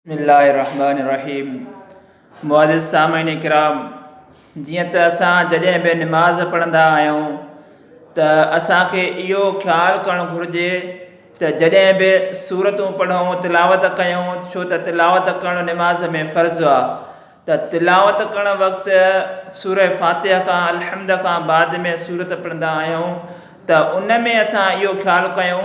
بسم الله الرحمٰن الرحيم معزز سامعين ڪرام جيئن ته اسان جڏهن به نماز پڙهندا آهيون ته اسانکي اهو خيال ڪرڻ گهرجي ته جڏهن به سورتون پڙهون تلاوت ڪيون ڇو ته تلاوت ڪرڻ نماز ۾ فرض آ ته تلاوت ڪرڻ وقت سوره فاتحه کان الحمد کان بعد ۾ سورت پڙهندا آهيون ته ان ۾ اسان اهو خيال ڪيون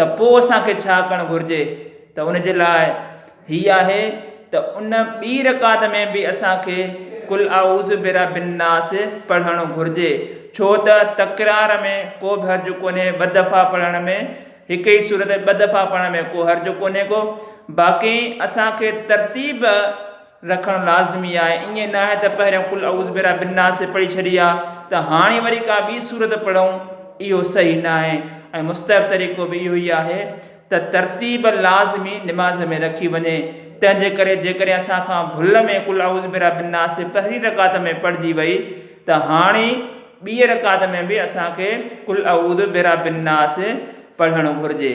ته پوء اسان کي ڇا ڪرڻ گهرجي ته ان جي لاء هي آهي ته ان ٻي رڪعت ۾ به اسان کي قل اعوذ برب الناس پڙهڻ گهرجي ڇو ته تڪرار ۾ ڪو به حرج ڪونهي ٻه دفعا پڙهڻ ۾ هڪ ئي سورت ٻه دفعا پڙهڻ ۾ ڪو حرج ڪونهي ڪو باقي اسان کي ترتيب رکڻ لازمي آهي ائين نه آهي ته پهريان قل اعوذ برب الناس پڙهي ڇڏي آ ته هاڻي وري ڪا ٻي سورت پڙهون اهو صحيح نه آهي ۽ مستحب طريقو به اهو ئي آهي ته ترتيب لازمي نماز ۾ رکي وڃي تنهن جي ڪري جيڪڏهن اسان کان ڀل ۾ قل اعوذ برب الناس پهرين رڪعت ۾ پڙهجي وئي ته هاڻي ٻي رڪعت ۾ به اسان کي قل اعوذ برب الناس پڙهڻ گهرجي.